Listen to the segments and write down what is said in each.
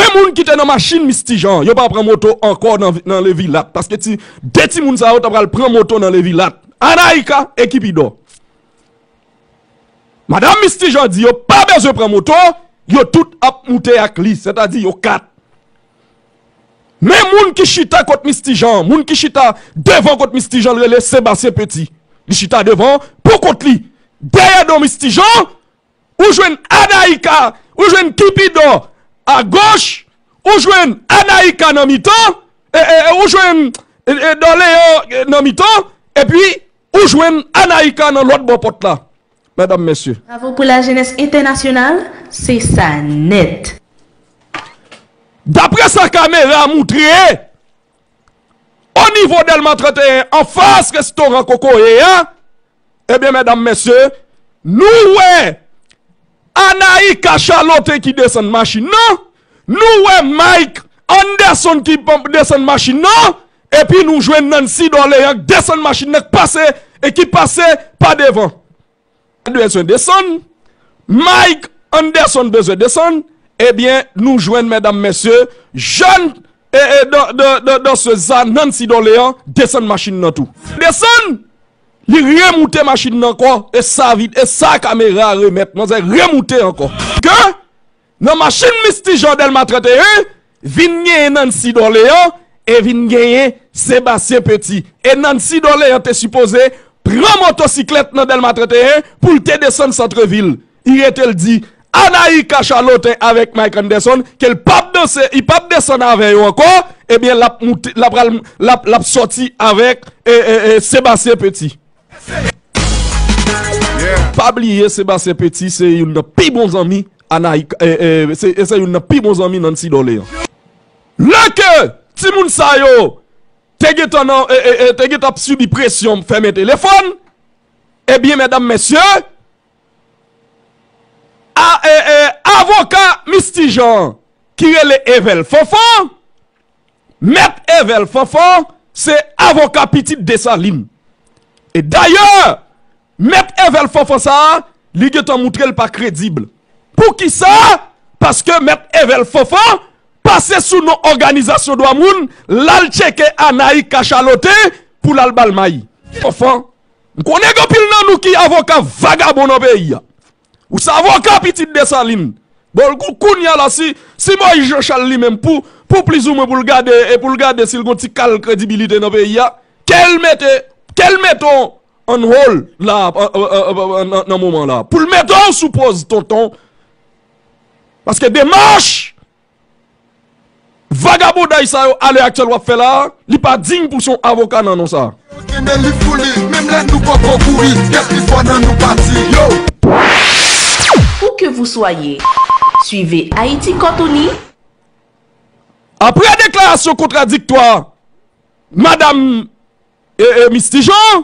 2 moun ki te nan machin Misty Jean an, yo pa pran moto ankò nan Le Vilatte paske ti 2 timoun sa yo ta pral pran moto nan Le Vilatte. Anaïka e Kipido. Madam Misty Jean di yo pa bezwen pran moto, yo tout ap moute ak li, sètadi yo 4. Men moun ki chita kot Misty Jean an, moun ki chita devan kot Misty Jean an rele Sébastien Petit. Li chita devan pou kont li. Dèyè do Misty Jean, ou jwenn Anaïka, ou jwenn Kipidò a goch, ou jwenn Anaïka nan mitan, ou jwenn Dòleyo nan mitan, epi ou jwenn Anaïka nan lòt bò pòt la. Medam, mesye. Bravo pou la jenès entènasyonal, se sa nèt. Daprè sa kamera moutre. O nivo Dèlma 31 an fas restoran kokoye a, ebyen medam mesye nou wè Anaïka Charlotte ki desann machin nan, nou wè Mike Anderson ki desann machin nan, epi nou jwenn Nancy Dorlean k desann machin nan k pase e ki pase pa devan. Mike bezwen desann, Mike Anderson bezwen desann, ebyen nou jwenn medam mesye, jèn dansez sa Nancy Dorlean desann machin nan tou. Desann, li remoute machin nan ankò, e sa kamera remèt manzè remoute ankò. Ke Nan machin Misty Jean Delma 31, vin genyen Nancy Dorlean e vin genyen Sébastien Petit. E Nancy Dorlean te sipoze pran motosiklèt nan Delma 31 pou l te desann Santrevil. I rete l di Anaï Cachalote avèk Mike Anderson ke l pap danse, i pap desann avè yo ankò, ebyen l ap moute, l ap pral, l ap, l ap sòti avèk Sébastien Petit. Pa bliye Sebastien Petit se youn nan pi bon zanmi Nancy Dorlean. Lè ke timoun sa yo te gentan ap sibi presyon fèmen telefòn, ebyen medam mesye, avoka Misty Jean ki rele Evel Fanfan Mèt Evel Fanfan se avoka pitit Desalin. E dayè, Mèt Evel Fanfan sa a, li gen tan moutre l pa kredib. Pou ki sa? Paske Mèt Evel Fanfan pase sou non òganizasyon dwa moun, l al tcheke Anayi kachalote pou l al ba l mayi. Fanfan, m konnen gen anpil nan nou ki avoka vagabon nan peyi a. Ou se avoka pitit Desalin. Bon l kou kounya la si si Moyiz Janchal li menm pou pou plizoumwen pou l gade e pou l gade si l gon ti kal kredibilite nan peyi a, ke l mete ke l mete w on hold la nan moman la. Pou l mete w sou poz tonton. Paske demach Vagabondaj sa yo a lè aktyèl w ap fè la a, li pa diy pou l se yon avoka nan non sa a. Où que vous soyez, suivez Haïti Côte Unie! Aprè deklarasyon kontradiktwa Madam Misti Jean,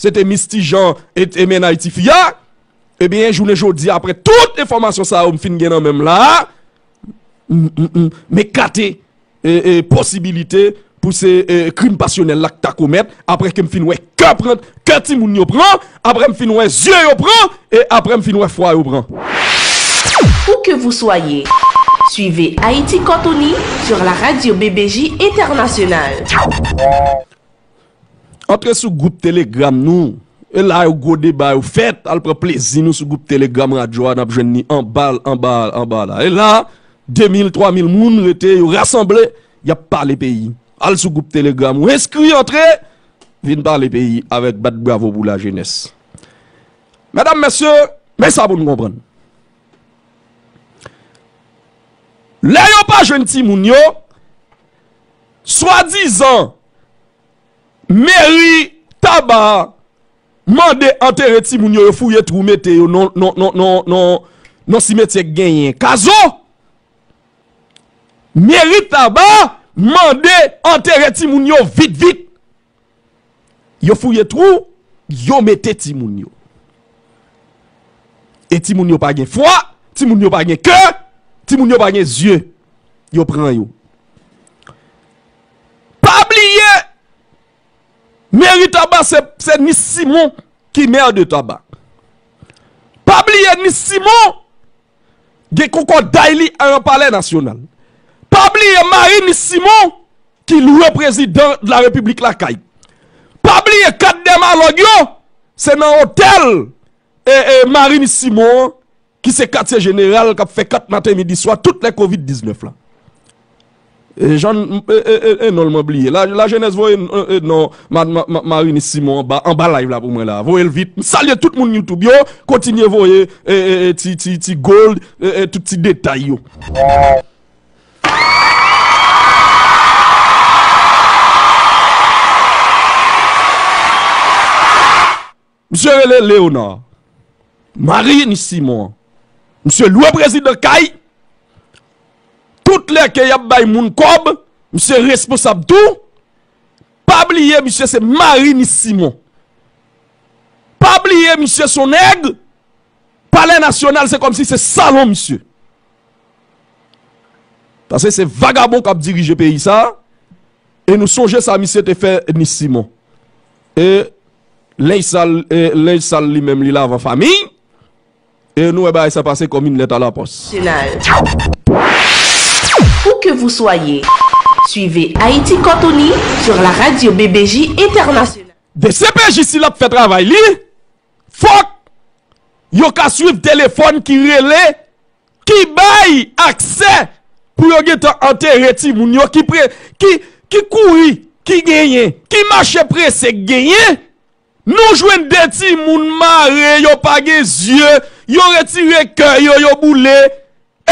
Se te Misty Jean et te mennaj ti fi a. Ebyen jounen jodi apre tout enfòmasyon sa yo m fin gen nan menm la a, m ekate posibilite pou se krim pasyonèl la k ta komèt apre ke m fin wè kè pran, kè timoun yo pran, apre m fin wè zye yo pran e apre m fin wè fwa yo pran. Où que vous soyez, suivez Haïti Cantoni sur la radio BBJ Internationale. Antre sou gwoup telegram nou e la yo gwo deba yo fèt al pran plezi nou sou gwoup telegram radyo a nap jwenn ni anba anba anba la e la 2 mil 3 mil moun rete yo rasanble yap pale peyi al sou gwoup telegram ou enskri antre vin pale peyi avèk bat bravo pou la jenès medam mesye men sa pou nou konprann lè yo pa jwenn ti moun yo swadizan. Meri Taba mande antere timoun yo, yo fouye twou mete yo nan simetyè k genyen kazo. Meri Taba mande antere timoun yo vit vit. Yo fouye twou, yo mete timoun yo. E timoun yo pa gen fwa, timoun yo pa gen kè, timoun yo pa gen zye. Yo pran yo. Pa bliye meri taba se ni simon ki maire de taba. Pa bliye ni simon gen kokoday li a yon palè nasyonal. Pa bliye mari ni simon ki lwe prezidan la repiblik lakay. Pa bliye kat dèmalòg yo se nan otèl e mari ni simon ki se katye jeneral k ap fè kat maten midi swa tout lè kovid 19 la e jan n e non l mwen bliye lajenès voye non marinis simon anba anba live la pou mwen la voye l vit m salye tout moun youtube yo kontinye voye e ti ti ti gold e tout ti detay yo. Misye rele Léonard Mariny Simon Misye lwe prezidan kay Tout lè ke yap bay moun kòb Misye responsab tou Pa bliye misye se Mariny Simon Pa bliye misye son nèg Palè nasyonal se kòmsi se salon misye Pase se vagabon kap dirije peyi sa. E nou sonje sa misye te fè Nice Simon. E Linge sal e Linge sal li menm li lavan famiy. E nou wè bagay sa pase kòm yn lèt a la pòs. Nasyonal. Où que vous soyez, suivez Haïti Côte Unie sur la radio BBJ Internationale. Dcpj si lap fè travay li fòk yo ka swiv telefòn ki rele. ki bay aksè pou yo gen tan antere timoun yo, ki kouri ki genyen, ki mache prese k genyen, nou jwenn 2 timoun mare, yo pa gen zye, yo retire kè yo, yo boule,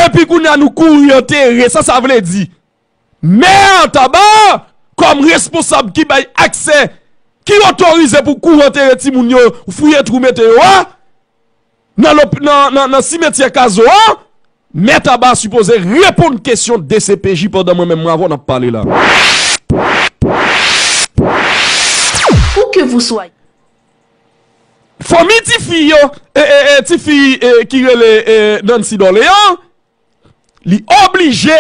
epi kounye a nou kouri antere, sa sa vle di? Mè a Taba a kòm responsab ki bay aksè ki otorize pou kou antere timoun yo fouye twou mete yo a nan simetyè Kazo a, Mè Taba a sipoze reponn kesyon dcpj pandan mwen menm m avè w n ap pale la. Fanmi tifi yo, tifi ki rele Nancy Dorlean, Li oblije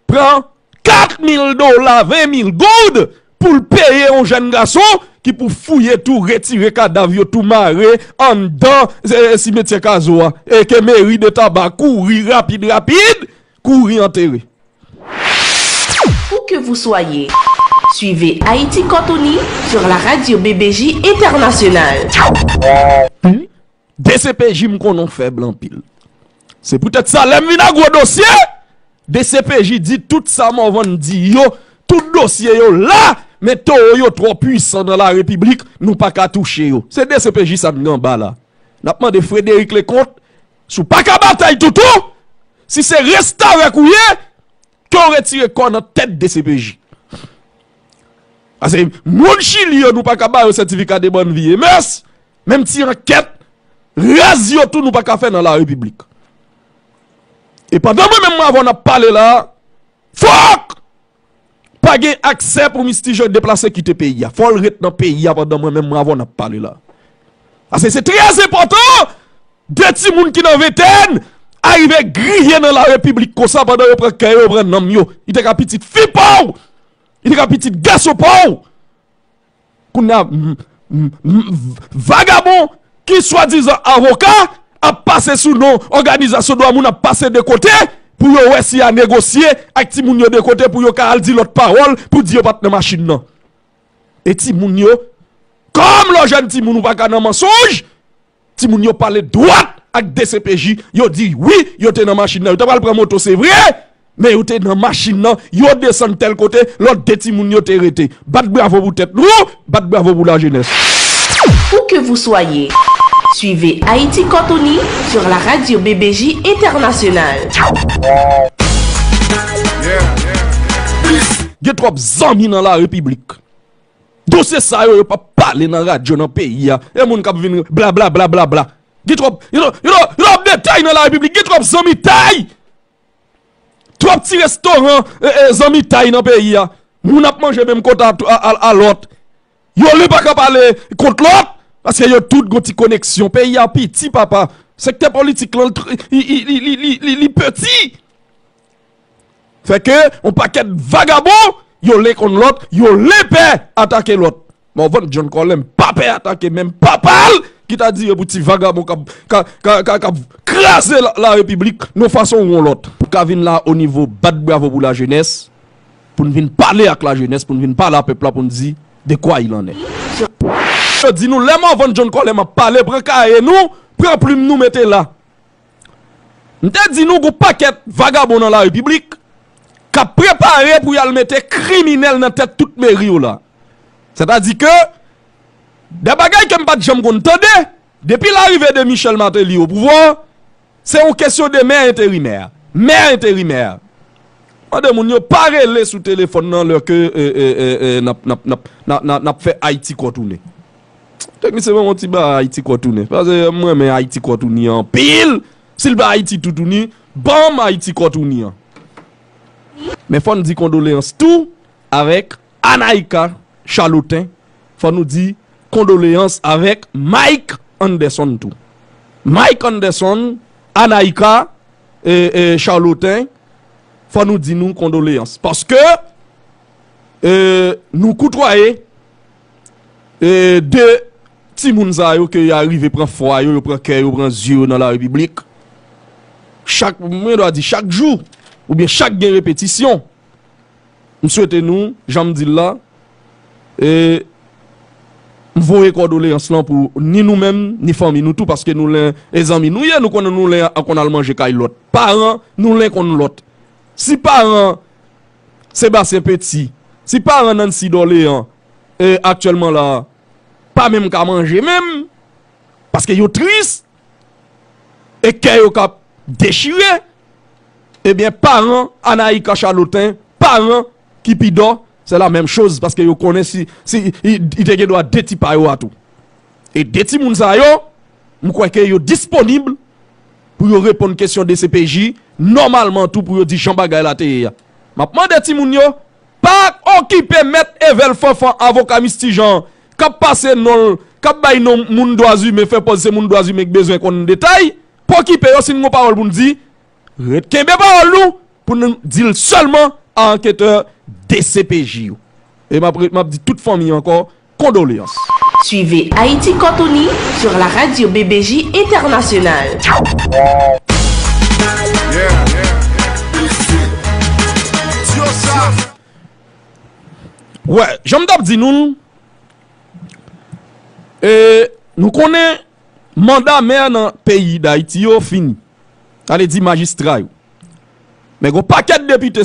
pran 4 mil dola, 20 mil goud, pou l peye yon jèn gason ki pou fouye tou, retire kadav yo tou mare anndan simetyè Kazo a e ke meri de Taba kouri rapid rapid kouri antere. Où que vous soyez, suivez Haïti Cantoni sur la radio BBJ Internationale. Dcpj m konnen w fèb anpil. Se poutèt sa lè m vin ak gwo dosye, dcpj di tout sa Morvan di yo, tout dosye yo la, men towo yo twò pwisan nan la repiblik, nou pa ka touche yo. Se dcpj sa n gen anba la. N ap mande Frédéric Leconte, si w pa ka batay toutou, si se restavèk ou ye, Ke w retire kò w nan tèt dcpj. Pase moun chili yo nou pa ka bayo sètifika de bòn vi e mès, menm ti ankèt raz yo tou nou pa ka fè nan la repiblik. E pandan mwen menm avè w nap pale la, fòk pa gen aksè pou mistijan deplase kite peyi a. Fò l ret nan peyi a pandan mwen menm avè w nap pale la. Pase se trè enpòtan. De timoun ki nan ventèn a rive griyen nan larepiblik konsa pandan yo pran kè yo, yo pran nanm yo. Li te ka pitit fi pa w! Li te ka pitit gason pa w! Kounye a, vagabon ki swadizan avoka ap pase sou non òganizasyon dwa moun ap pase de kote pou yo wè si y a negosye ak timoun yo de kote pou yo ka al di lòt pawòl pou di yo pa t nan machin nan. E timoun yo, kòm lè w jèn timoun ou pa ka nan mansonj, Timoun yo pale dwat ak dcpj, yo di wi yo te nan machin nan, yo ta pral pran moto se vre, men yo te nan machin nan, yo desann tèl kote, lòt 2 timoun yo te rete. Bat bravo pou tèt nou, bat bravo pou lajenès. Où que vous soyez, suivez Haïti Corps Tony sur la radio BBJ Internationale. Gen trop zanmi nan la repiblik. Dosye sa yo yo pa pale nan radyo nan peyi a. E moun kap vin bla bla bla bla bla. Gen trop, yo trop de tay nan la repiblik, gen trop zanmi tay. Trop ti restoran zanmi tay nan peyi a. Moun ap manje menm kota a lot. Yo li pa ka pale kont lot. Paske yo tout gon ti koneksyon. Peyi a piti papa. Sekte politik lan li piti. Fè ke yon pakèt vagabon yon len konn lòt, yon len pè atake lòt. Morvan John Colem pa pè atake menm papa l ki ta dire pou ti vagabon kap kraze la repiblik yon fason ou yon lòt. Pou ka vin la o nivo bat bravo pou la jenès, pou n vin pale ak la jenès, pou n vin pale a pèp la pou n di de kwa il an è. Yo di nou lè Morvan John Colem ap pale pran kaye nou, pran plim nou mete la. M te di nou gon pakèt vagabon nan la repiblik k ap prepare pou y al mete kriminèl nan tèt tout meri yo la. Sètadi ke de bagay ke m pa t janm konn tande, depi larive de Michel Martelly o pouvwa, se yon kesyon de mè enterimè, mè enterimè. Mande moun yo pa rele sou telefòn nan lè ke n ap fè Ayiti kòtounen. Teknisyen ban mwen ti ba Haiti kò tounen paske m renmen Haiti kò tounen an anpil si l pa Haiti tou tounen ban m Haiti kò tounen an men fò n di kondoleyans tou avèk Anaïka Charlotin fò nou di kondoleyans avèk Mike Anderson tou Mike Anderson Anaïka Charlotin fò nou di nou kondoleyans paske nou koutwaye 2 timoun sa yo ke ya rive pran fwa yo, yo pran kè yo, pran zye yo nan la repiblik. Chak, mwen dwa di chak jou, ou byen chak gen repetisyon. M swete nou, jan m di l la, e m voye kòdoleyans lan pou ni nou menm, ni fanmi nou tou, paske nou len e zanmi nou ye, nou konnen nou len an konn al manje kay lòt. Paran nou len konn lòt. Si paran. Sébastien Petit, si paran Nancy Dorlean aktyèlman la a pa menm ka manje menm paske yo tris e kè yo ka dechire ebyen paran Anaïka Charlotin, paran Kipidò se la menm choz paske yo konnen si li te gen dwa 2 ti pa yo a tou. E 2 timoun sa yo, m kwè ke yo disponib Pou yo reponn kesyon dcpj, nòmalman tou pou yo di jan bagay la te ye a. M ap mande timoun yo, pa okipe mèt Evel Fanfan avoka Misty Jean an, k ap pase non l, k ap bay non moun dwazimen, fè pòz se moun dwazimen k bezwen konn detay, pa okipe yo si n gen yon pawòl pou n di, ret kenbe pawòl nou pou n di l sèlman a anketè dcpj yo. E m ap di tout fanmi ankò, Kondoleans. Suivez Haïti Cantoni sur la radio BBJ Internationale. Wè, jan m t ap di nou l, e nou konnen manda mè nan peyi Dayiti yo fini. Sa vle di majistra yo. Men gen yon pakèt depite.